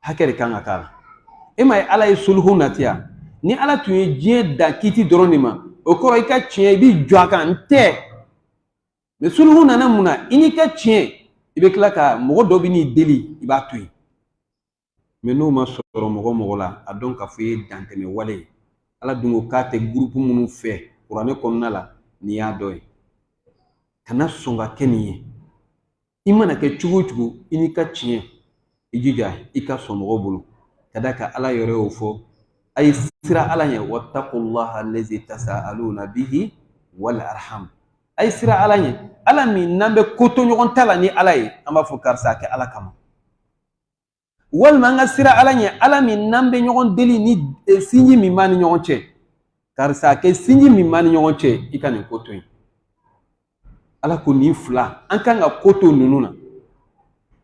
hakɛ de kan ka k'a la e m'a ye ala ye soluhu nati yan ni ala tun ye diɲɛ da kiti dɔrɔn de ma o kɔrɔ i ka tiɲɛ i b'i jɔ a kan n tɛ mɛ soluhu nana mun na i n'i ka tiɲɛ i bɛ tila ka mɔgɔ dɔ bɛ n'i deli i b'a to yen mɛ n'o ma sɔrɔ mɔgɔ mɔgɔ la a dɔn k'a fɔ i ye dantɛmɛ wale ye ala dun ko k'a tɛ gurupu minnu fɛ kuranɛ kɔnɔna la nin y'a dɔ ye kana sɔn ka kɛ nin ye i mana kɛ cogo o cogo i n'i ka tiɲɛ i jija i ka sɔn mɔgɔw bolo ka d'a kan ala yɛrɛ y'o fɔ a ye siran ala ɲɛ watakulaha alazi tasaaluna bihi wal arham a ye siran ala ɲɛ ala min n'an bɛ ko to ɲɔgɔn ta la ni ala ye an b'a fɔ karisa a kɛ ala kama walima an ka siran ala ɲɛ ala min n'an bɛ ɲɔgɔn deli ni e, sinji min b'an ni ɲɔgɔn cɛ karisa a kɛ sinji min b'an ni ɲɔgɔn cɛ i ka nin ko to yen ala ko nin fila an kan ka ko to ninnu na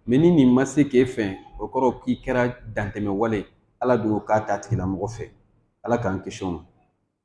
mɛ ni nin ma se k'e fɛn o kɔrɔ k'i kɛra dantɛmɛ wale ala dun k'a t'a tigilamɔgɔ fɛ ala k'an kisi o ma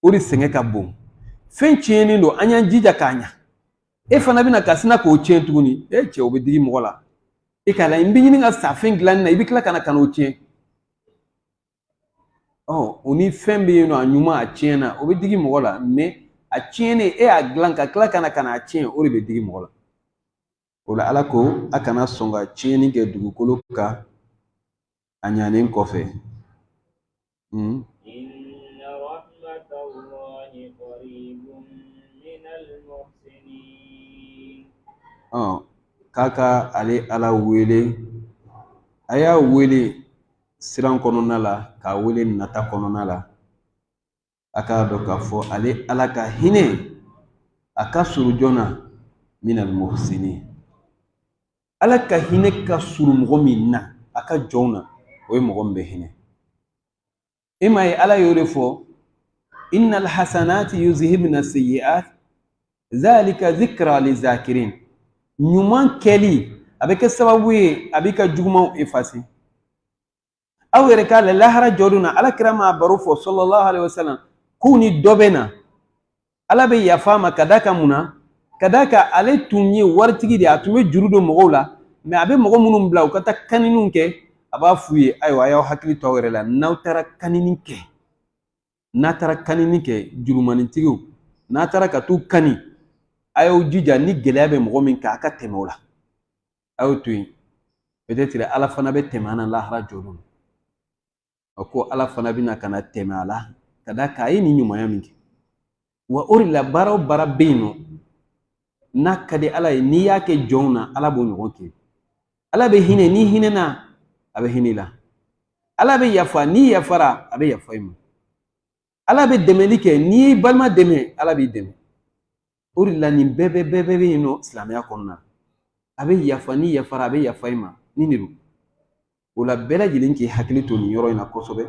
o de sɛgɛn ka bon fɛn tiɲɛnen don an y'an jija k'a ɲa e fana bɛna ka sina k'o tiɲɛ tuguni e cɛ o bɛ digi mɔgɔ la e k'a la n bɛ ɲini ka sa fɛn dilanni na i bɛ tila ka na ka n'o tiɲɛ ɔ o ni fɛn bɛ yen nɔ a ɲuman a tiɲɛna o bɛ digi mɔgɔ la mɛ a tiɲɛnen e y'a dilan ka tila ka na ka n'a tiɲɛ o de bɛ digi mɔgɔ la o la ala ko a kana sɔn ka tiɲɛni kɛ dugukolo kan a ɲanen kɔfɛ hmm. k'a ka ale ala wele a y'a wele siran kɔnɔna la k'a wele nata kɔnɔna la a k'a dɔn k'a fɔ ale ala ka hinɛ a ka surun jɔn na minal muhsinin ala ka hinɛ ka surun mɔgɔ min na a ka jɔnw na o ye mɔgɔ min bɛ hinɛ e m'a ye ala y'o de fɔ innal hasanati yuzhibna sayyi'at zalika zikra lizakirin ɲuman kɛli a bɛ kɛ sababu ye a b'i ka jugumanw efase aw yɛrɛ k'a la lahara jɔdon na ala kira m'a baro fɔ sallallahu alayhi wa sallam k'u ni dɔ bɛ na ala bɛ yafa a ma ka d'a kan mun na ka d'a kan ale tun ye waritigi de ye a tun bɛ juru don mɔgɔw la mɛ a bɛ mɔgɔ minnu bila u ka taa kaniniw kɛ a b'a f'u ye ayiwa a y'aw hakili to aw yɛrɛ la n'aw taara kanini kɛ n'a taara kanini kɛ jurumanintigiw n'a taara ka t'u kani a y'aw jija ni gɛlɛya bɛ mɔgɔ min kan a ka tɛmɛ o la a y'o to yen peut-être ala fana bɛ tɛmɛ an na lahara jɔdon a ko ala fana bɛna ka na tɛmɛ a la ka d'a kan a ye nin ɲumanya min kɛ wa o de la baara o baara bɛ yen nɔ n'a ka di ala ye n'i y'a kɛ jɔnw na ala b'o ɲɔgɔn kɛ ala bɛ hinɛ n'i hinɛna a bɛ hinɛ i la ala bɛ yafa n'i yafara a bɛ yafa i ma ala bɛ dɛmɛli kɛ n'i y'i balima dɛmɛ ala b'i dɛmɛ o de la nin bɛɛ bɛɛ bɛɛ bɛɛ bɛ yen nɔ silamɛya kɔnɔna na a bɛ yafa n'i yafara a bɛ yafa i ma nin de don o la bɛɛ lajɛlen k'i hakili to nin yɔrɔ in na kosɛbɛ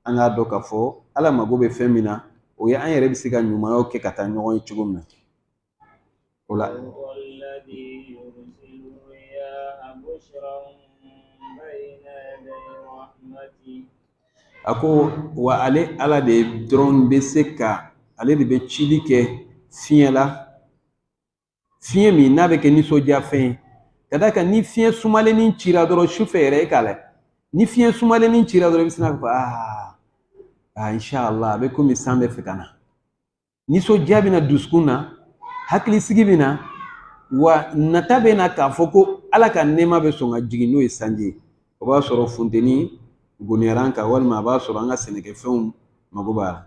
an k'a dɔn k'a fɔ ala mago bɛ fɛn min na o ye an yɛrɛ bɛ se ka ɲumanyaw kɛ ka taa ɲɔgɔn ye cogo min na o la a ko wa ale ala de dɔrɔn bɛ se ka ale de bɛ cili kɛ fiɲɛ la fiɲɛ min n'a bɛ kɛ nisɔndiya fɛn ye ka d'a kan ni fiɲɛ sumalennin cira dɔrɔn sufɛ yɛrɛ e k'a lajɛ ni fiɲɛ sumalennin cira dɔrɔn i bɛ sin k'a fɔ aa aa inshallah a bɛ komi san bɛ fɛ ka na nisɔndiya bɛ na dusukun na hakilisigi bɛ na wa nata bɛ na k'a fɔ ko ala ka nɛɛma bɛ sɔn ka jigin n'o ye sanji ye o b'a sɔrɔ funteni goniyara an kan walima a b'a sɔrɔ an ka sɛnɛkɛfɛnw mago b'a la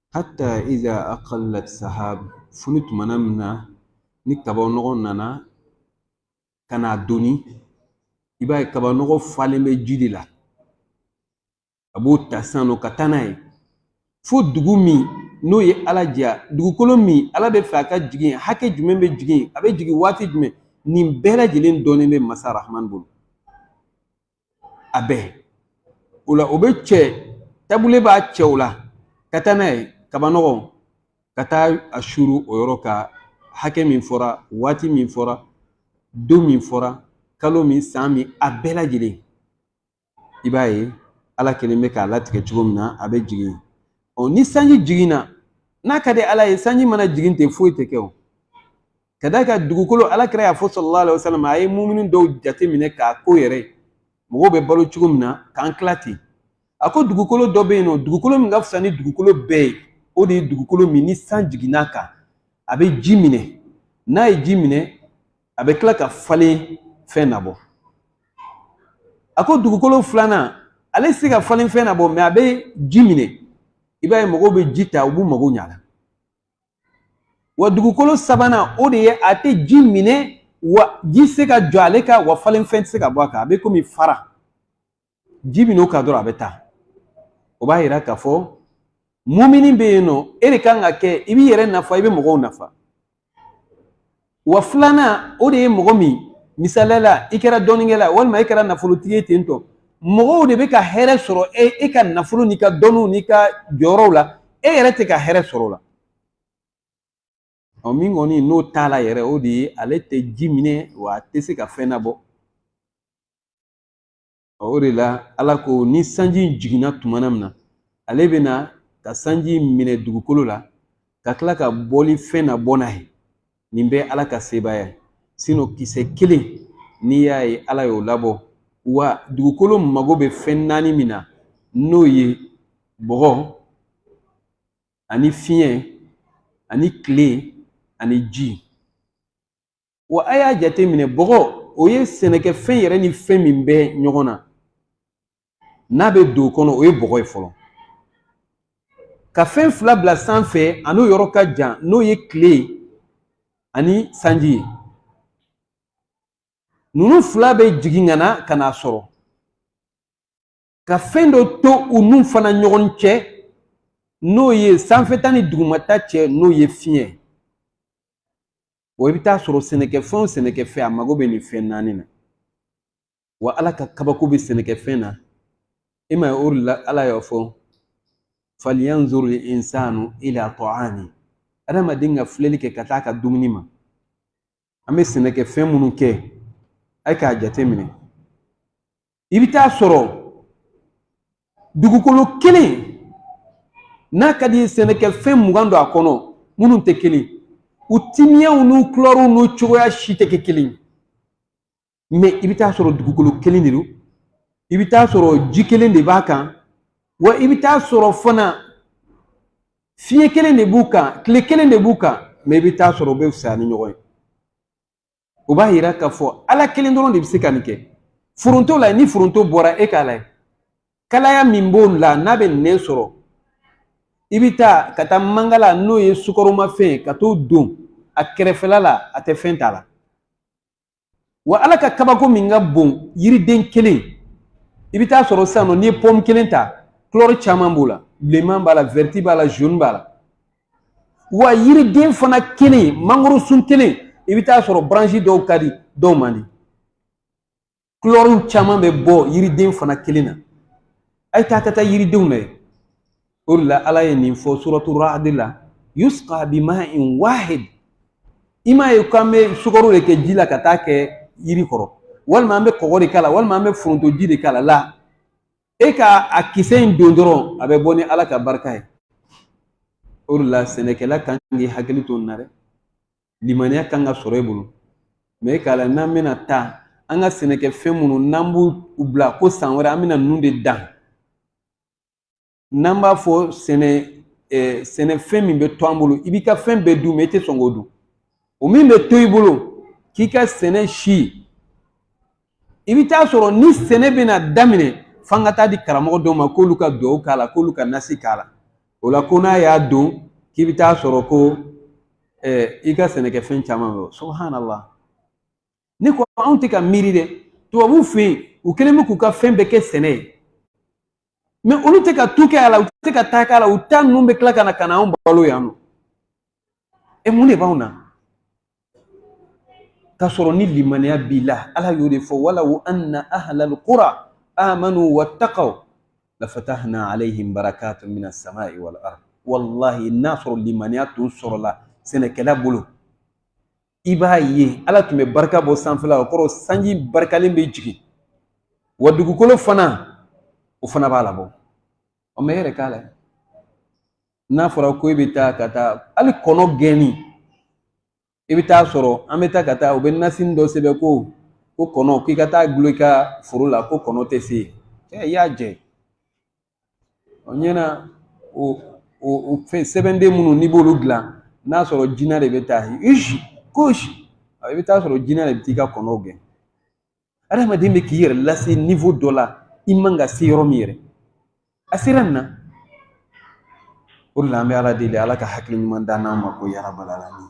hatta iza aqallat sahab fo ni tumana min na ni kaba nɔgɔ nana ka n'a doni i b'a ye kaba nɔgɔ falen bɛ ji de la a b'o ta sisan nɔ ka taa n'a ye fo dugu min n'o ye ala diya dugukolo min ala bɛ fɛ a ka jigin hakɛ jumɛn bɛ jigin a bɛ jigin waati jumɛn nin bɛɛ lajɛlen dɔnnen bɛ masa rahman bolo a bɛɛ o la o bɛ cɛ tabule b'a cɛ o la ka taa n'a ye kaba nɔgɔ ka taa a suuru o yɔrɔ ka hakɛ min fɔra waati min fɔra don min fɔra kalo min san min a bɛɛ lajɛlen i b'a ye ala kelen bɛ k'a latigɛ cogo min na a bɛ jigin ɔ ni sanji jiginna n'a ka di ala ye sanji mana jigin ten foyi tɛ kɛ o ka d'a kan dugukolo ala kira y'a fɔ sallallahu alaihi wasallam a ye mumini dɔw jate minɛ k'a ko yɛrɛ mɔgɔw bɛ balo cogo min na k'an tila ten a ko dugukolo dɔ bɛ yen nɔ dugukolo min ka fisa ni dugukolo bɛɛ ye o de ye dugukolo min ni san jiginn'a kan a bɛ ji minɛ n'a ye ji minɛ a bɛ tila ka falenfɛn nabɔ a ko dugukolo filanan ale tɛ se ka falenfɛn nabɔ mɛ a bɛ ji minɛ i b'a ye mɔgɔw bɛ ji ta u b'u mago ɲ'a la wa dugukolo sabanan o de ye a tɛ ji minɛ wa ji tɛ se ka jɔ ale kan wa falenfɛn tɛ se ka bɔ a kan a bɛ komi fara ji bɛ n'o kan dɔrɔn a bɛ taa o b'a yira k'a fɔ mumini bɛ yen nɔ e de ka kan ka kɛ i b'i yɛrɛ nafa i bɛ mɔgɔw nafa wa filanan o de ye mɔgɔ min misali la i kɛra dɔnnikɛla walima i kɛra nafolotigi ye ten tɔ mɔgɔw de bɛ ka hɛrɛ sɔrɔ e ka nafolo n'i ka dɔnniw n'i ka jɔyɔrɔw la e yɛrɛ tɛ ka hɛrɛ sɔrɔ o la ɔ min kɔni n'o t'a la yɛrɛ o de ye ale tɛ ji minɛ wa a tɛ se ka fɛn labɔ o de la ala ko ni sanji in jiginna tuma min na ale bɛ na ka sanji in minɛ dugukolo la ka tila ka bɔli fɛn labɔ n'a ye nin bɛ ala ka sebaaya ye sinon kisɛ kelen n'i y'a ye ala y'o labɔ wa dugukolo mago bɛ fɛn naani min na n'o ye bɔgɔ ani fiɲɛ ani tile ani ji Wa a y'a jate minɛ bɔgɔ o ye sɛnɛkɛfɛn yɛrɛ ni fɛn min bɛ ɲɔgɔn na n'a bɛ don o kɔnɔ o ye bɔgɔ ye fɔlɔ ka fɛn fila bila sanfɛ a n'o yɔrɔ ka jan n'o ye tile ani sanji ye ninnu fila bɛ jigin ka na ka n'a sɔrɔ ka fɛn dɔ to u n'u fana ɲɔgɔn cɛ n'o ye sanfɛta ni dugumata cɛ n'o ye fiɲɛ wa i bɛ taa sɔrɔ sɛnɛkɛfɛn o sɛnɛkɛfɛn a mago bɛ nin fɛn naani na wa ala ka kabako bɛ sɛnɛkɛfɛn na i m'a ye o de la ala y'a fɔ falyanzuril insanu ila ta'ami adamaden ka filɛli kɛ ka taa ka dumuni ma an bɛ sɛnɛkɛfɛn minnu kɛ a ye k'a jateminɛ i bɛ taa sɔrɔ dugukolo kelen n'a ka d'i ye sɛnɛkɛfɛn mugan don a kɔnɔ minnu tɛ kelen u timiyaw n'u kulɔriw n'u cogoya si tɛ kɛ kelen ye mɛ i bɛ taa sɔrɔ dugukolo kelen de don i bɛ taa sɔrɔ ji kelen de b'a kan wa i bɛ taa sɔrɔ fana fiɲɛ kelen de b'u kan tile kelen de b'u kan mɛ i bɛ taa sɔrɔ u bɛ fisaya ni ɲɔgɔn ye o b'a yira k'a fɔ ala kelen dɔrɔn de bɛ se ka nin kɛ foronto lajɛ ni foronto bɔra e k'a lajɛ kalaya min b'o la n'a bɛ nɛn sɔrɔ i bɛ taa ka taa mangala n'o ye sukaromafɛn ye ka t'o don a kɛrɛfɛla la a tɛ fɛn t'a la wa ala ka kabako min ka bon yiriden kelen i bɛ taa sɔrɔ sisan nɔ n'i ye pɔmu kelen ta kulɔri caman b'o la bilenman b'a la wɛrɛti b'a la zoni b'a la wa yiriden fana kelen mangoro sun kelen i bɛ taa sɔrɔ branche dɔw ka di dɔw man di kulɔriw caman bɛ bɔ yiriden fana kelen na a ye taa ka taa yiridenw lajɛ o de la ala ye nin fɔ suratu ra'd la yusqa bima'in wahid i m'a ye k'an bɛ sukaro de kɛ ji la ka taa kɛ yiri kɔrɔ walima an bɛ kɔgɔ de k'a la walima an bɛ forontoji de k'a la la e ka a kisɛ in don dɔrɔn a bɛ bɔ ni ala ka barika ye o de la sɛnɛkɛla kan k'i hakili to nin na dɛ limaniya kan ka sɔrɔ e bolo mɛ e k'a la n'an bɛna taa an ka sɛnɛkɛfɛn minnu n'an b'u u bila ko san wɛrɛ an bɛna ninnu de dan n'an b'a fɔ sɛnɛ ɛɛ sɛnɛfɛn min bɛ to an bolo i b'i ka fɛn bɛɛ dun mɛ i tɛ sɔn k'o dun o min bɛ to i bolo k'i ka sɛnɛ si i bɛ t'a sɔrɔ ni sɛnɛ bɛna daminɛ f'an ka t'a di karamɔgɔ dɔw ma k'olu ka duwawu k'a la k'olu ka nasi k'a la o la ko n'a y'a don k'i bɛ t'a sɔrɔ ko ɛɛ i ka sɛnɛkɛfɛn caman bɛ yen subhanallah ne ko anw tɛ ka miiri dɛ tubabuw fɛ yen u kɛlen bɛ k'u ka fɛn bɛɛ kɛ sɛnɛ ye mɛ olu tɛ ka tu kɛ a la u tɛ ka ta kɛ a la u ta ninnu bɛ tila ka na ka na anw balo yan nɔ e mun de b'anw na k'a sɔrɔ ni limaniya b'i la ala y'o de fɔ walaw anna ahlal qura amanu wattaqaw lafatahna alayhim barakatun min assamai wal ard wallahi n'a sɔrɔ limaniya tun sɔrɔla sɛnɛkɛla bolo i b'a ye ala tun bɛ barika bɔ sanfɛla o kɔrɔ sanji barikalen bɛ jigin wa dugukolo fana o fana b'a labɔ ɔ mɛ e yɛrɛ k'a la n'a fɔra ko e bɛ taa ka taa hali kɔnɔ gɛnni i bɛ t'a sɔrɔ an bɛ taa ka taa u bɛ nasini dɔ sɛbɛn ko ko kɔnɔ k'i ka t'a dulon i ka foro la ko kɔnɔ tɛ se yen cɛ i y'a jɛ o ɲɛna o o o fɛn sɛbɛnden minnu n'i b'olu dilan n'a sɔrɔ jinɛ de bɛ taa isi kosi i bɛ t'a sɔrɔ jinɛ de bɛ t'i ka kɔnɔw gɛn adamaden bɛ k'i yɛrɛ lase nivo dɔ la i man ka se yɔrɔ min yɛrɛ a sera nin na o de la an bɛ ala deli ala ka hakili ɲuman d'an ma ko ya rabbal alamin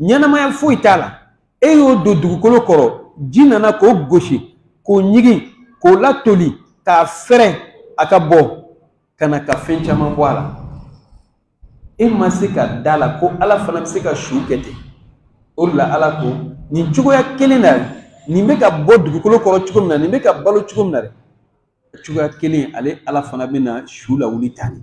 ɲɛnamaya foyi t'a la e y'o don dugukolo kɔrɔ ji nana k'o gosi k'o ɲigin k'o latoli k'a fɛrɛn a ka bɔ ka na ka fɛn caman bɔ a la e ma se ka da a la ko ala fana bɛ se ka su kɛ ten o de la ala ko nin cogoya kelen na nin bɛ ka bɔ dugukolo kɔrɔ cogo min na nin bɛ ka balo cogo min na dɛ cogoya kelen ale ala fana bɛ na su lawuli tan de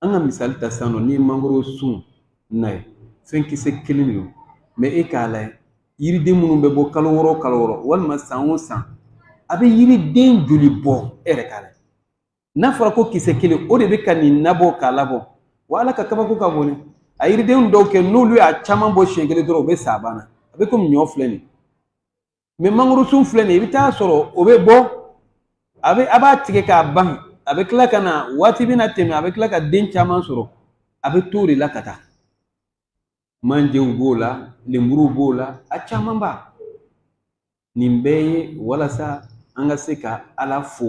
an ka misali ta sisan nɔ n'i ye mangoro sun nayɛ fɛn kisɛ kelen de don mɛ e k'a layɛ yiriden minnu bɛ bɔ kalo wɔɔrɔ kalo wɔɔrɔ walima san o san a bɛ yiriden joli bɔ e yɛrɛ k'a layɛ n'a fɔra ko kisɛ kelen o de bɛ ka nin nabɔ k'a labɔ wa ala ka kabako ka bon dɛ a yiriden dɔw kɛ n'olu y'a caman bɔ siɲɛ kelen dɔrɔn u bɛ sa a banna a bɛ komi ɲɔ filɛ nin mɛ mangoro sun filɛ nin ye i bɛ taa sɔrɔ o bɛ bɔ a bɛ a b'a tigɛ k'a ban a bɛ tila ka na waati bɛna tɛmɛ a bɛ tila ka den caman sɔrɔ a bɛ to o de la ka taa manjew b'o la lenburuw b'o la a caman b'a nin bɛɛ ye walasa an ka se ka ala fo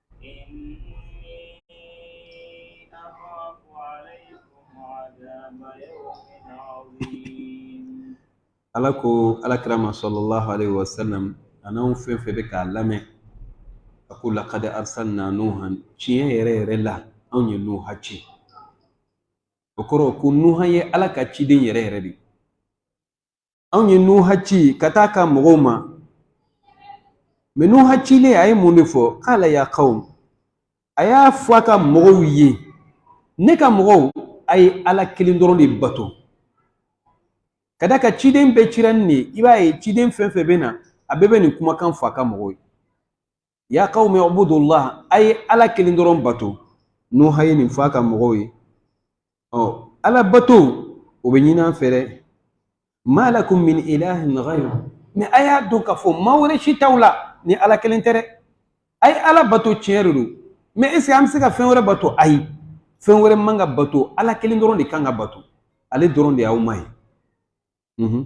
ala ko ala kira ma sallallahu alaihi wasallam an'anw fɛn fɛn bɛ k'a lamɛn a ko laqad arsalna nuhan tiɲɛ yɛrɛ yɛrɛ la anw ye nuha ci o kɔrɔ ko nuha ye ala ka ciden yɛrɛ yɛrɛ de anw ye nuha ci ka taa a ka mɔgɔw ma mɛ nuha cilen a ye mun de fɔ qala ya qawm a y'a fɔ a ka mɔgɔw ye ne ka mɔgɔw a ye ala kelen dɔrɔn de bato ka d'a kan ciden bɛɛ cira nin de ye i b'a ye ciden fɛn fɛn bɛ na a bɛɛ bɛ nin kumakan fɔ a ka mɔgɔw ye ya qawmi ubudullah a ye ala kelen dɔrɔn bato nuha ye nin fɔ a ka mɔgɔw ye ɔ ala bato o bɛ ɲini an fɛ dɛ ma lakum min ilahin ghayru mɛ a y'a dɔn k'a fɔ ma wɛrɛ si t'aw la ni ala kelen tɛ dɛ a ye ala bato tiɲɛ de don mɛ est ce que an bɛ se ka fɛn wɛrɛ bato ayi fɛn wɛrɛ man ka bato ala kelen dɔrɔn de kan ka bato ale dɔrɔn de y'aw ma ye mhm.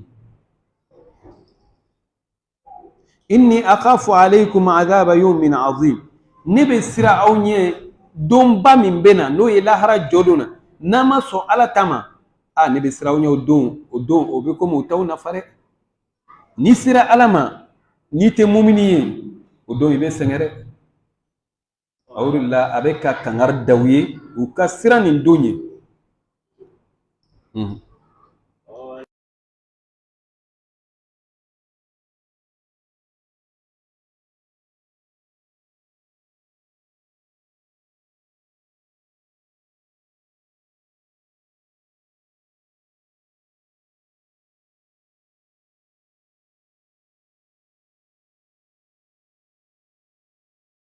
inni akhafu alaykum adhaba yawmin azim ne bɛ siran aw ɲɛ donba min bɛ na n'o ye lahara jɔdon na n'a ma sɔn ala ta ma a ne bɛ siran aw ɲɛ o don o don o bɛ komi o t'aw nafa dɛ n'i sera ala ma n'i tɛ mumini ye o don i bɛ sɛgɛn dɛ a o de la a bɛ ka kangari da u ye u ka siran nin don ɲɛ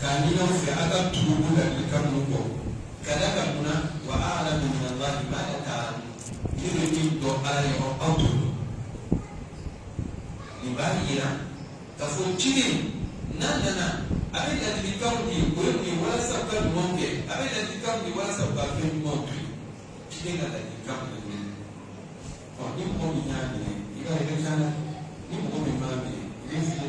k'a ɲini aw fɛ aw ka tugu u ladilikan ninnu kɔ ka d'a kan mun na wa alamu minallahi ma la ta ne bɛ min dɔn ala ye aw aw t'o dɔn nin b'a yira k'a fɔ ciden n'a nana a bɛ ladilikanw di o ye mun ye walasa u ka ɲumanw kɛ a bɛ ladilikanw di walasa u ka fɛn jugumanw to yen ciden ka ladilikanw de bɛ yen ɔ ni mɔgɔ min y'a minɛ i b'a ye i bɛ taa ni mɔgɔ min m'a minɛ i bɛ fili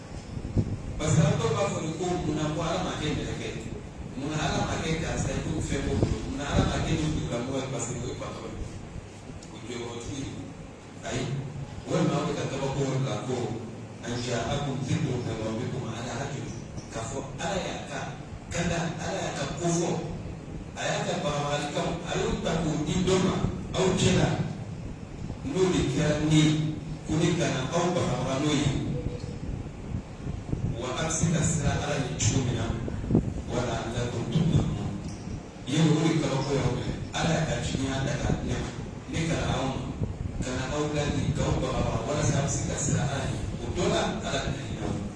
parce que an dɔw b'a fɔ de ko munna ko ala ma kɛ mɛlɛkɛ ye munna ala ma kɛ karisa ye ko fɛn b'o bolo munna ala ma kɛ nin dugulamɔgɔ ye parce que o ye patɔrɔn ye o jɔyɔrɔtigi de don ayi walima aw bɛ ka kabako la ko an jaakum zikrun min rabbikum ala rajulin k'a fɔ ala y'a ka ka da ala y'a ka ko fɔ a y'a ka bagabagalikan a y'o ta k'o di dɔ ma aw cɛla n'o de kɛra ne ko ne ka na aw bagabaga n'o ye wa a bɛ se ka siran ala ɲɛ cogo min na wa laallakum turhamuna o de kabako y'aw minɛ ala y'a ka jiginya da ka ne ma ne ka na aw ma ka na aw ladi k'aw bagabaga walasa a bɛ se ka siran ala ɲɛ o dɔ la ala bɛ na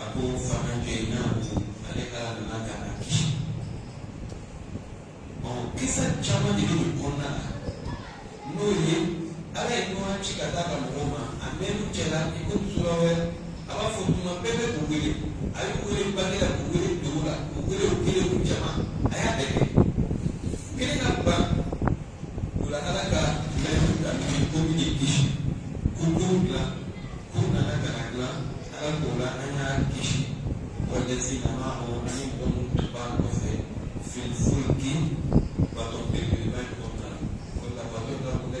a ko fa anjaynahu ale ala nana ka na kisi ɔ kisa caman de bɛ nin kɔnɔna la n'o ye ala ye nuhu ci ka taa ka mɔgɔw ma a mɛnn'u cɛla i ko sura wɛrɛ a b'a fɔ tuma bɛɛ bɛ k'u wele a y'u wele bange la k'u wele dogo la k'u wele u kelen k'u jama a y'a bɛɛ kɛ kelen ka ban O la ala ka layidu ta min ye ko min ye kisi kurun dilan ko nana ka na dilan ala k'o la an y'a kisi wallazina maahu ani mɔgɔ minnu tun b'a nɔfɛ fil fulki bato belebeleba in kɔnɔna la o la bato da ko dɛ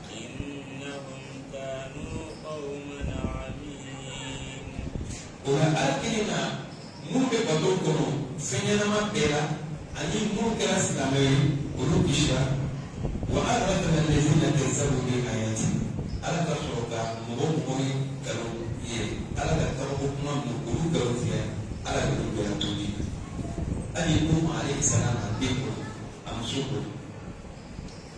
o la ala kelen na minnu bɛ bato kɔnɔ fɛn ɲɛnama bɛɛ la ani minnu kɛra silamɛ ye olu kisira wa aghraqna allazina kazzabu bi ayatina ala ka sɔrɔ ka mɔgɔ mɔgɔ ye nkalon ye ala ka kabako kuma ninnu olu nkalon tigɛ ala de y'olu bɛɛ to ji hali nuhu alayhi salam a den kɔ a muso kɔ.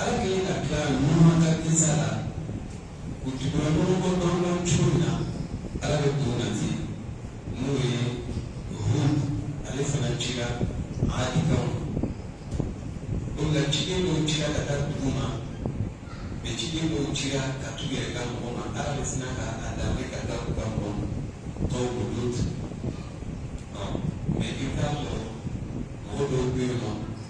ala kɛlen ka tila nuhu ka kisa la u tugura ɲɔgɔn kɔ dɔɔnin cogo min na ala bɛ dɔ nati n'o ye hud ale fana cira aadikaw ma o la ciden dɔw cira ka taa dugu ma mais ciden dɔw cira ka t'u yɛrɛ ka mɔgɔ ma ala bɛ sina ka a danbe ka taa u ka mɔgɔ ma tɔw ko lut mais i bɛ taa sɔrɔ mɔgɔ dɔw bɛ yen nɔ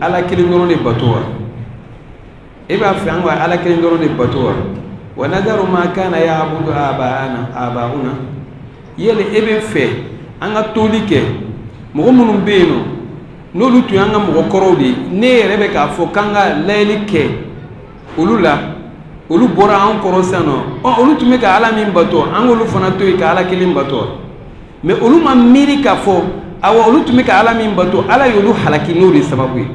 ala kelen dɔrɔn de bato wa e b'a fɛ an ka ala kelen dɔrɔn de bato wa wa nazaru ma kana yaabudu abauna yala e b'a fɛ an ka toli kɛ mɔgɔ minnu bɛ yen nɔ n'olu tun y'an ka mɔgɔ kɔrɔw de ye ne yɛrɛ bɛ k'a fɔ k'an ka layɛli kɛ olu la olu bɔra an kɔrɔ sisan nɔ ɔ olu tun bɛ ka ala min bato an k'olu fana to yen ka ala kelen bato mɛ olu ma miiri k'a fɔ awa olu tun bɛ ka ala min bato ala y'olu halaki n'o de sababu ye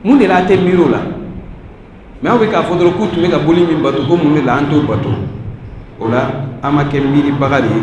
mun de la a tɛ miiri o la mɛ aw bɛ k'a fɔ dɔrɔn k'u tun bɛ ka boli min bato ko mun de la an t'o bato o la an ma kɛ miiribaga de ye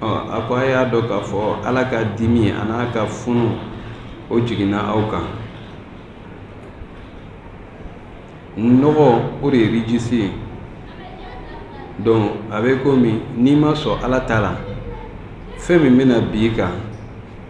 a ko a y'a dɔn k'a fɔ ala ka dimi a n'a ka funu o jiginna aw kan nɔgɔ o de ye rijisi ye donc a bɛ komi n'i ma sɔn ala ta la fɛn min bɛna bin i kan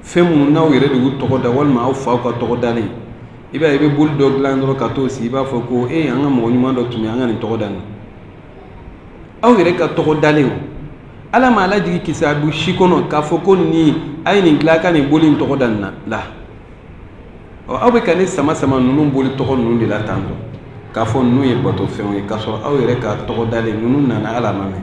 fɛn minnu n'aw yɛrɛ de y'u tɔgɔ da walima aw faw ka tɔgɔ dalen i b'a ye i bɛ boli dɔ dilan dɔrɔn ka t'o sigi i b'a fɔ ko e an ka mɔgɔ ɲuman dɔ tun bɛ an ka nin tɔgɔ da nin aw yɛrɛ ka tɔgɔ dalen o ala m'a lajigi kitabu si kɔnɔ k'a fɔ ko nin a ye nin dilan a ka nin boli in tɔgɔ da nin na la ɔ aw bɛ ka ne sama sama ninnu boli tɔgɔ ninnu de la tan tɔ k'a fɔ ninnu ye batofɛnw ye k'a sɔrɔ aw yɛrɛ ka tɔgɔ dalen ninnu nana ala ma mɛn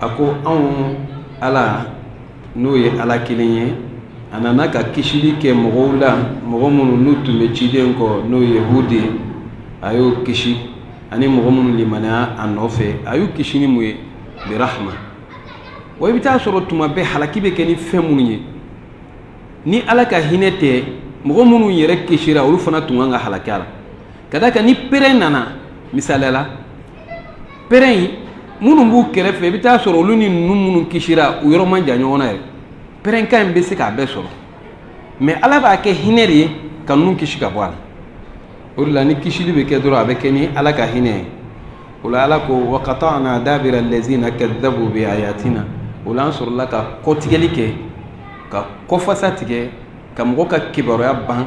a ko anw ala n'o ye ala kelen ye a nana ka kisili kɛ mɔgɔw la mɔgɔ minnu n'u tun bɛ ciden kɔ n'o ye hud ye a y'o kisi ani mɔgɔ minnu limaniya a nɔfɛ a y'u kisi ni mun ye birahma wa i bɛ t'a sɔrɔ tuma bɛɛ halaki bɛ kɛ ni fɛn minnu ye ni ala ka hinɛ tɛ mɔgɔ minnu yɛrɛ kisira olu fana tun kan ka halaki a la ka d'a kan ni pɛrɛn nana misaliya la pɛrɛn in minnu b'u kɛrɛfɛ i bɛ t'a sɔrɔ olu ni ninnu minnu kisira u yɔrɔ man jan ɲɔgɔn na yɛrɛ pɛrɛnkan in bɛ se k'a bɛɛ sɔrɔ mɛ ala b'a kɛ hinɛ de ye ka ninnu kisi ka bɔ a la o de la ni kisili bɛ kɛ dɔrɔn a bɛ kɛ ni ala ka hinɛ ye o la ala ko wa katana dabira lazina kadabu bi ayatina o la an sɔrɔla ka kɔtigɛli kɛ ka kɔfasa tigɛ ka mɔgɔ ka kibaruya ban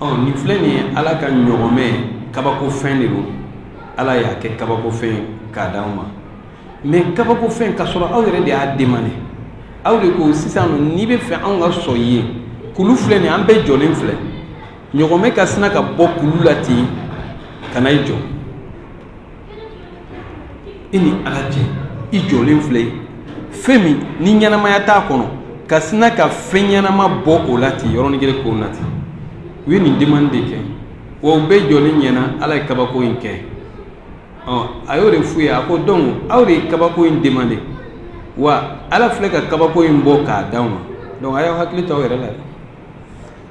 ɔ nin filɛ nin ye ala ka ɲɔgɔmɛ kabakofɛn de don ala y'a kɛ kabakofɛn k'a d'aw ma mɛ kabakofɛn k'a sɔrɔ aw yɛrɛ de y'a demande aw de ko sisan n'i bɛ fɛ anw ka sɔn ye kulu filɛ nin an bɛɛ jɔlen filɛ ɲɔgɔmɛ ka sina ka bɔ kulu la ten ka na i jɔ i ni ala cɛ i jɔlen filɛ ye fɛn min ni ɲɛnamaya t'a kɔnɔ ka sina ka fɛn ɲɛnama bɔ o la ten yɔrɔnin kelen k'o na ten u ye nin demande de kɛ wa u bɛɛ jɔlen ɲɛna ala ye kabako in kɛ ɔ a y'o de f'u ye a ko donc aw de ye kabako in demande wa ala filɛ ka kabako in bɔ k'a d'aw ma donc a y'aw hakili to aw yɛrɛ la dɛ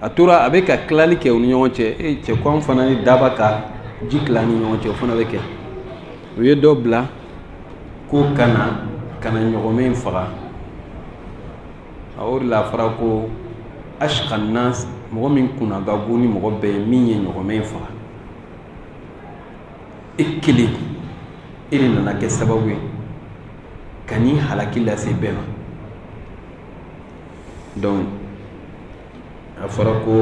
a tora a bɛ ka tilali kɛ u ni ɲɔgɔn cɛ e cɛ ko an fana ni daaba ka ji tila ni ɲɔgɔn cɛ o fana bɛ kɛ u ye dɔ bila ko ka na ka na ɲɔgɔmɛ in faga a o de la a fɔra ko ashqa nas mɔgɔ min kunna ka go ni mɔgɔ bɛɛ ye min ye ɲɔgɔmɛ in faga e kelen e de nana kɛ sababu ye ka nin halaki lase bɛɛ ma donc a fɔra ko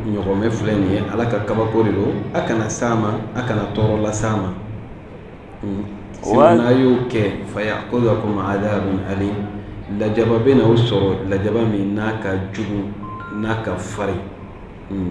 ɲɔgɔmɛ filɛ nin ye ala ka kabako de don a kana s'a ma a kana tɔɔrɔ las'a ma sinon n'a y'o kɛ fayakuzakum adabun alim lajaba bɛna aw sɔrɔ lajaba min n'a ka jugu n'a ka farin hmm.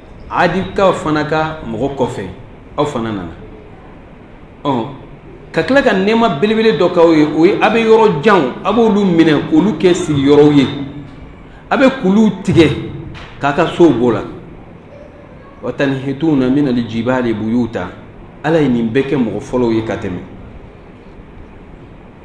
adikaw fana ka mɔgɔ kɔfɛ aw fana nana ɔ ka tila ka nɛɛma belebele dɔ k'aw ye o ye a bɛ yɔrɔ janw a b'olu minɛ k'olu kɛ sigiyɔrɔw ye a bɛ kuluw tigɛ k'a ka sow b'o la wa tanhituna minal jibali buyuta ala ye nin bɛɛ kɛ mɔgɔ fɔlɔw ye ka tɛmɛ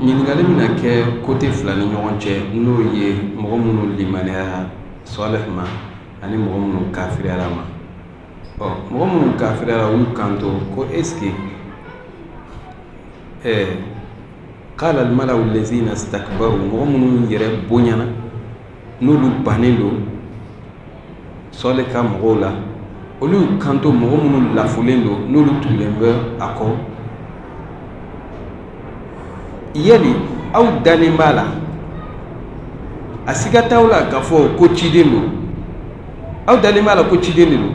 ɲininkali bɛna kɛ côté fila ni ɲɔgɔn cɛ n'o ye mɔgɔ minnu limaniyara Salih ma ani mɔgɔ minnu kafiriyara a ma ɔ mɔgɔ minnu kafiriyara olu kanto ko est-ce que ɛɛ qalal malau lazina stakbaru mɔgɔ minnu yɛrɛ bonyana n'olu bannen don Salih ka mɔgɔw la olu kanto mɔgɔ minnu lafulen don n'olu tugulen bɛ a kɔ yali aw dalen b'a la a siga t'aw la k'a fɔ ko ciden don aw dalen b'a la ko ciden de don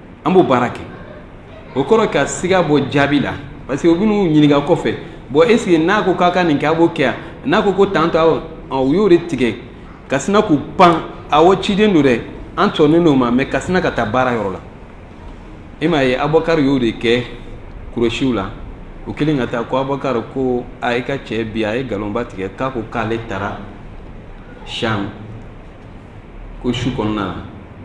an b'o baara kɛ o kɔrɔ ka siga bɔ jaabi la parce que u bɛn'u ɲininka kɔfɛ bon est ce que n'a ko k'a ka nin kɛ a b'o kɛ yan n'a ko ko tan to awɔ u y'o de tigɛ ka sina k'u pan awɔ ciden don dɛ an sɔnnen don a ma mais ka sina ka taa baara yɔrɔ la e m'a ye abubakari y'o de kɛ kuresiw la o kelen ka taa ko abubakari ko a i ka cɛ bi a ye nkalonba tigɛ k'a ko k'ale taara sham ko su kɔnɔna na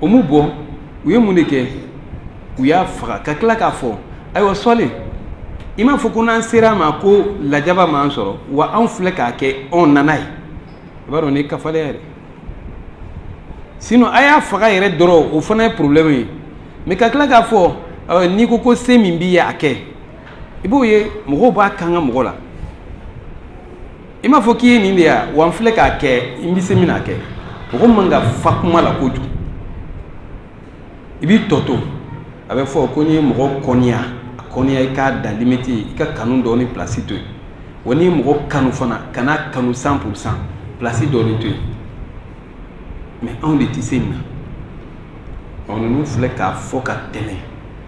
o m'u bɔ u ye mun de kɛ u y'a faga ka tila k'a fɔ ayiwa Salih i m'a fɔ ko n'an sera a ma ko lajaba b'an sɔrɔ wa anw filɛ k'a kɛ anw nana ye i b'a dɔn ni kafalɛ yɛrɛ sinon a y'a faga yɛrɛ dɔrɔn o fana ye problème ye mais ka tila k'a fɔ euh, n'i ko ko se min b'i ye a kɛ i b'o ye mɔgɔw b'a kanga mɔgɔ la i m'a fɔ k'i ye nin de ya wa n filɛ k'a kɛ n bɛ se min na kɛ mɔgɔ man ka fa kuma la kojugu i b'i tɔ to a bɛ fɔ ko n'i ye mɔgɔ kɔniya a kɔniya i k'a dan limite i ka kanu dɔɔni pilasi to yen wa n'i ye mɔgɔ kanu fana kan'a kanu cent pour cent pilasi dɔɔni to yen mais anw de tɛ se nin na ɔ ninnu filɛ k'a fɔ ka tɛmɛ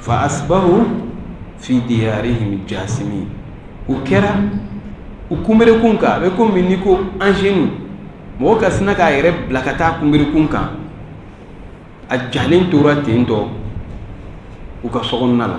fa asbahu fi diyarihim jasimin u kɛra u kunberekun kan a bɛ komi n'i ko à genoux mɔgɔ ka sina k'a yɛrɛ bila ka taa kunberekun kan a jalen tora ten tɔ u ka sokɔnɔna la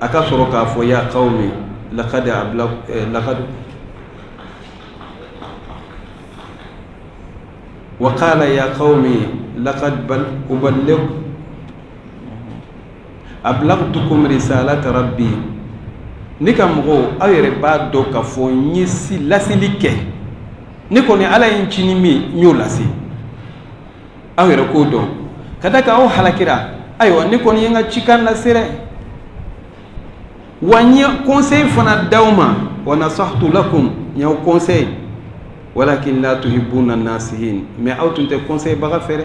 a ka sɔrɔ k'a fɔ ya kawmi lakadi abila lakadi wa kala ya kawmi lakadi ubale abilagtukum risalata rabbi ne ka mɔgɔw aw yɛrɛ b'a dɔn k'a fɔ n ye ci laseli kɛ ne kɔni ala ye n ci ni min n y'o lase aw yɛrɛ k'o dɔn ka da kan aw halakira ayiwa ne kɔni ye n ka cikan lase dɛ wa n ye conseil fana d'aw ma wa nasahtu lakum n y'aw conseil walakin la tuhibuna nasihin mais aw tun tɛ conseil baga fɛ dɛ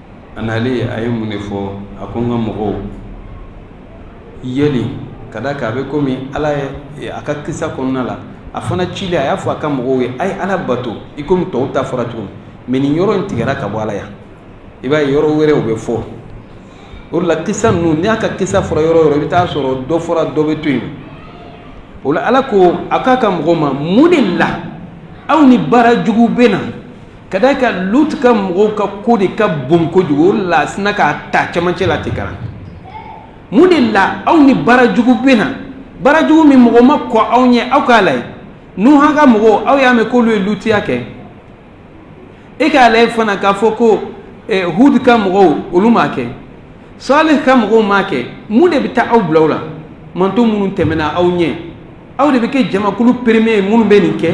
a nalen a ye mun de fɔ a ko n ka mɔgɔw yeli ka da kan a bɛ komi ala ye a ka kisa kɔnɔna la a fana cilen a y'a fɔ a ka mɔgɔw ye a ye ala bato i komi tɔw ta fɔra cogo mais nin yɔrɔ in tigɛra ka bɔ a la yan i b'a ye yɔrɔ wɛrɛ o bɛ fɔ o de la kisa ninnu ni a ka kisa fɔra yɔrɔ yɔrɔ i bɛ taa sɔrɔ dɔ fɔra dɔ bɛ to yen o la ala ko a k'a ka mɔgɔw ma mun de la aw ni baara jugu bɛ na ka da kan lut ka mɔgɔw ka ko de ka bon kojugu ala sinna k'a ta cɛmancɛ la ten ka na mun de la aw ni baara jugu bɛ na baara jugu min mɔgɔ ma kɔn aw ɲɛ aw k'a layɛ nuhan ka mɔgɔw aw y'a mɛn k'olu ye lutiya kɛ e k'a layɛ fana k'a fɔ ko eh, hud ka mɔgɔw olu m'a kɛ salih ka mɔgɔw m'a kɛ mun de bɛ taa aw bila o la mantɔn minnu tɛmɛna aw ɲɛ aw de bɛ kɛ jamakulu premier ye minnu bɛ nin kɛ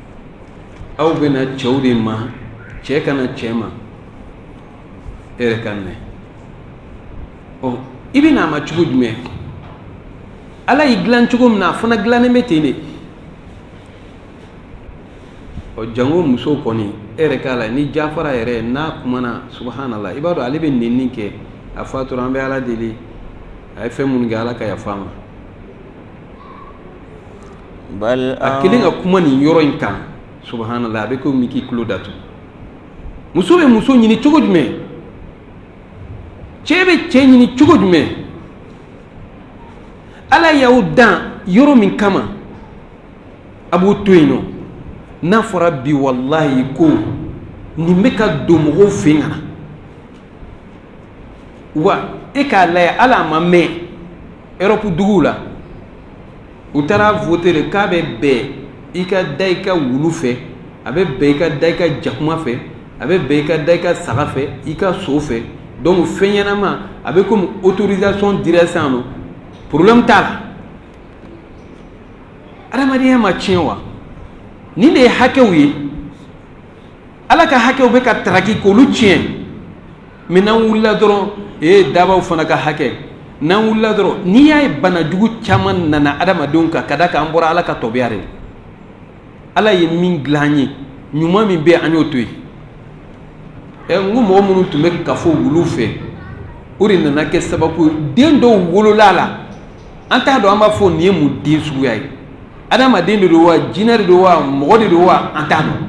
aw bɛ na cɛw de ma cɛ ka na cɛ ma e yɛrɛ ka minɛ ɔ i bɛ n'a ma cogo jumɛn ala y'i dilan cogo min na a fana dilannen bɛ ten de ɔ jango muso kɔni e yɛrɛ k'a layɛ ni jafara yɛrɛ n'a kumana subahanala i b'a dɔn ale bɛ nenni kɛ a fatura an bɛ ala deli a ye fɛn minnu kɛ ala ka yafa a ma a kelen ka kuma nin yɔrɔ in kan subhanala a bɛ komi i k'i tulo datu muso bɛ muso ɲini cogo jumɛn cɛ bɛ cɛ ɲini cogo jumɛn ala y'aw dan yɔrɔ min kama a b'o to yen nɔ n'a fɔra bi walayi ko nin bɛ ka don mɔgɔw fɛ yen kana wa e k'a lajɛ hali a ma mɛn erɔpu duguw la u taara vote de k'a bɛ bɛn i ka da i ka wulu fɛ a bɛ bɛn i ka da i ka jakuma fɛ a bɛ bɛn i ka da i ka saga fɛ i ka so fɛ donc fɛn ɲɛnama a bɛ komi autorisation dira sisan nɔ problème t'a la adamadenya ma tiɲɛ wa nin de ye hakɛw ye ala ka hakɛw bɛ ka taraki k'olu tiɲɛ mɛ n'an wulila dɔrɔn ee dabaw fana ka hakɛ n'an wulila dɔrɔn n'i y'a ye bana jugu caman nana adamadenw kan ka d'a kan an bɔra ala ka tɔbiya de ala ye min dilan an ye ɲuman min bɛ an y'o to yen ɛ n ko mɔgɔ minnu tun bɛ kafo wulu fɛ o de nana kɛ sababu ye den dɔw wolola a la an t'a dɔn an b'a fɔ nin ye mun den suguya ye adamaden de don wa jinɛ de don wa mɔgɔ de don wa an t'a dɔn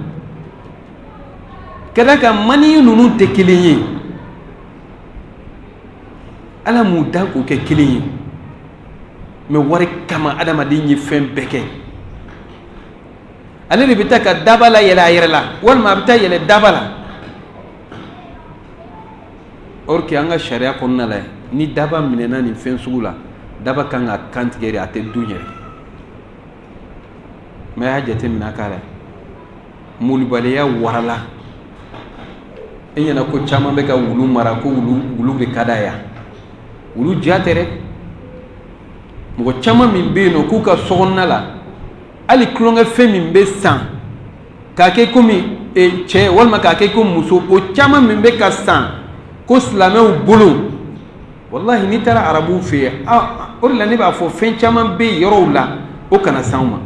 ka d'a kan mani ninnu tɛ kelen ye ala m'u dan k'u kɛ kelen ye mɛ wari kama adamaden ye fɛn bɛɛ kɛ ale de bɛ taa ka daba layɛlɛ a yɛrɛ la walima a bɛ taa yɛlɛ daba la or que an ka sariya kɔnɔna la ni daba minɛna nin fɛn sugu la daba kan ka kan tigɛ de a tɛ dun yɛrɛ mɛ a y'a jateminɛ a k'a la malobaliya warala e ɲɛ na ko caman bɛ ka wulu mara ko wulu de ka d'a ye wulu diya tɛ dɛ mɔgɔ caman min bɛ yen nɔ k'u ka sokɔnɔna la hali tulonkɛfɛn min bɛ san k'a kɛ komi e, cɛ walima k'a kɛ komi muso o caman min bɛ ka san ko silamɛw bolo walahi n'i taara arabuw fɛ yen o de la ne b'a fɔ fɛn caman bɛ yen yɔrɔw la o kana s'anw ma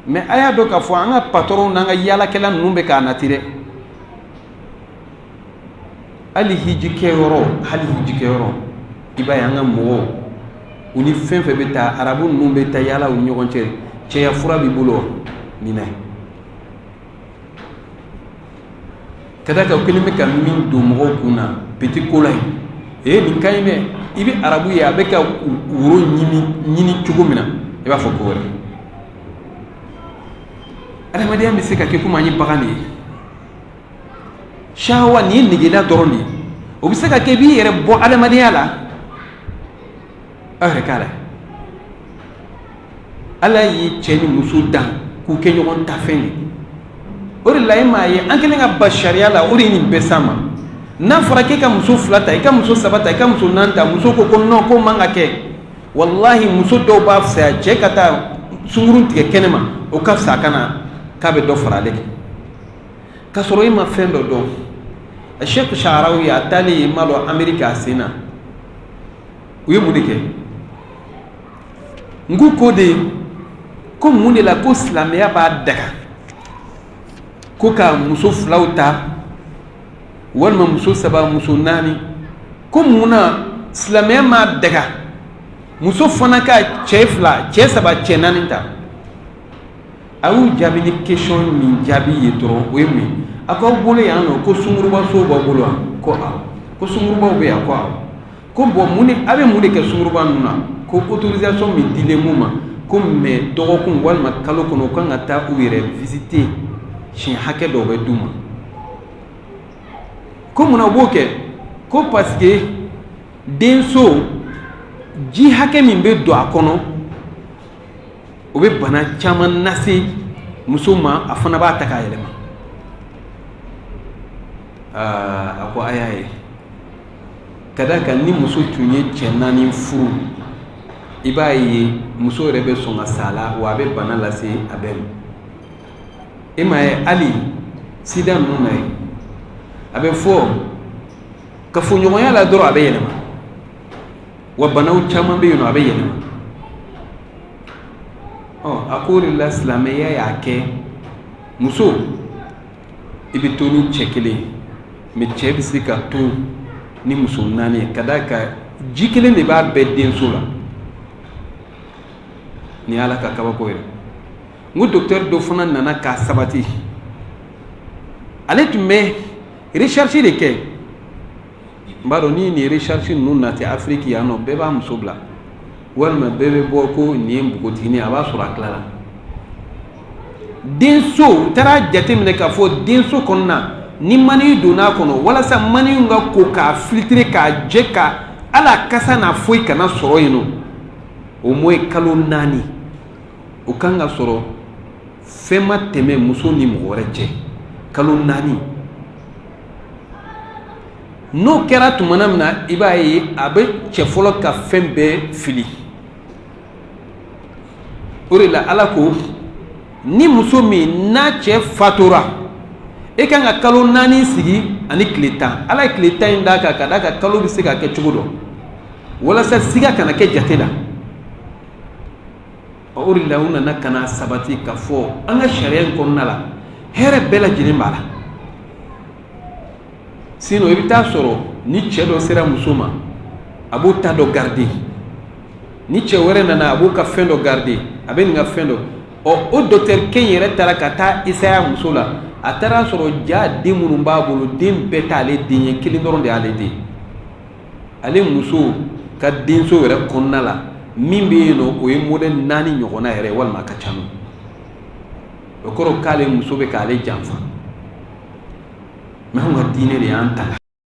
mɛ a y'a dɔn k'a fɔ an ka patɔrɔnw n'an ka yaalakɛla ninnu bɛ k'a nati dɛ hali hiji kɛyɔrɔ hali hiji kɛyɔrɔ i b'a ye an ka mɔgɔw u ni fɛn fɛn bɛ taa arabu ninnu bɛ taa yaala u ni ɲɔgɔn cɛ cɛya fura b'i bolo wa nin na ka d'a kan u kɛlen bɛ ka min don mɔgɔw kun na petit cola ye ee nin ka ɲi dɛ i bɛ arabu ye a bɛ ka woro ɲini ɲini cogo min na i b'a fɔ ko wɛrɛ adamadenya bɛ se ka kɛ komi an ye bagan de ye sawa nin ye negela dɔrɔn de ye o bɛ se ka kɛ i b'i yɛrɛ bɔ adamadenya la aw yɛrɛ k'a la ala ye cɛ ni muso dan k'u kɛ ɲɔgɔn ta fɛn ye o de la e m'a ye an kɛlen ka ban sariya la o de ye nin bɛɛ s'an ma n'a fɔra k'e ka muso fila ta i ka muso saba ta i ka muso naani ta muso ko ko nɔn k'o man ka kɛ walahi muso dɔw b'a fisaya cɛ ka taa sunkurun tigɛ kɛnɛ ma o ka fisa a kana k'a bɛ dɔ fara ale kan k'a sɔrɔ e ma fɛn dɔ dɔn sheikh sharawi a taalen yen n m'a dɔn ameriki a sen na u ye mun de kɛ n ko ko de ko mun de la ko silamɛya b'a daga ko ka muso filaw ta walima muso saba muso naani ko mun na silamɛya m'a daga muso fana ka cɛ fila cɛ saba cɛ naani ta a y'u jaabi ni question min jaabi ye dɔrɔn o ye mun ye a k'aw bolo yan nɔ ko sunkurubaso b'aw bolo wa ko awɔ ko sunkurubaw bɛ yan ko awɔ ko bon mun de a bɛ mun de kɛ sunkuruba ninnu na ko autorisation min dilen b'u ma ko mais dɔgɔkun walima kalo kɔnɔ u kan ka taa u yɛrɛ visiter siɲɛ hakɛ dɔw bɛ d'u ma ko munna u b'o kɛ ko parce que denso ji hakɛ min bɛ don a kɔnɔ o bɛ bana caman lase muso ma a fana b'a ta k'a yɛlɛma aa a ko a y'a ye ka d'a kan ni muso tun ye cɛ naani furu i b'a ye muso yɛrɛ bɛ sɔn ka sa a la wa a bɛ bana lase a bɛɛ ma e m'a ye hali sida ninnu na ye a bɛ fɔ kafoɲɔgɔnya la dɔrɔn a bɛ yɛlɛma wa banaw caman bɛ yen nɔ a bɛ yɛlɛma ɔ a k'o de la silamɛya y'a kɛ muso i bɛ to ni cɛ kelen ye mais cɛ bɛ se ka to ni muso naani ye ka d'a kan ji kelen de b'a bɛɛ denso la nin ye ala ka kabako ye n ko docteur dɔ fana nana k'a sabati ale tun bɛ recherche de kɛ n b'a dɔn ni nin recherche ninnu nati afiriki yan nɔ bɛɛ b'a muso bila walima bɛɛ bɛ bɔ ko nin ye npogotigini a b'a sɔrɔ a tilala denso u taara jateminɛ k'a fɔ denso kɔnɔna ni maniyu donn'a kɔnɔ walasa maniyu ka ko k'a filtrer k'a jɛ ka a la kasa n'a foyi kana sɔrɔ yen nɔ au moins kalo naani o kan ka sɔrɔ fɛn ma tɛmɛ muso ni mɔgɔ wɛrɛ cɛ kalo naani n'o kɛra tuma min na i b'a ye a bɛ cɛ fɔlɔ ka fɛn bɛɛ fili o de la ala ko ni muso min n'a cɛ fatura e kan ka kalo naani sigi ani tile tan ala ye tile tan in d'a kan ka d'a kan kalo bɛ se ka kɛ cogo dɔ walasa siga kana kɛ jate la o de la u nana ka n'a sabati k'a fɔ an ka sariya in kɔnɔna la hɛrɛ bɛɛ lajɛlen b'a la sinon i bɛ t'a sɔrɔ ni cɛ dɔ sera muso ma a b'o ta dɔ garder ni cɛ wɛrɛ nana a b'o ka fɛn dɔ garder a bɛ nin ka fɛn dɔ ɔ o dɔkitɛri kɛ in yɛrɛ taara ka t'a essayer a muso la a taara a sɔrɔ jaa den minnu b'a bolo den bɛɛ t'ale den ye kelen dɔrɔn de y'ale den ale muso ka denso yɛrɛ kɔnɔna la min bɛ yen nɔ o ye modɛli naani ɲɔgɔnna yɛrɛ walima a ka ca n'o o kɔrɔ k'ale muso bɛ k'ale janfa mɛ anw ka diinɛ de y'an tanga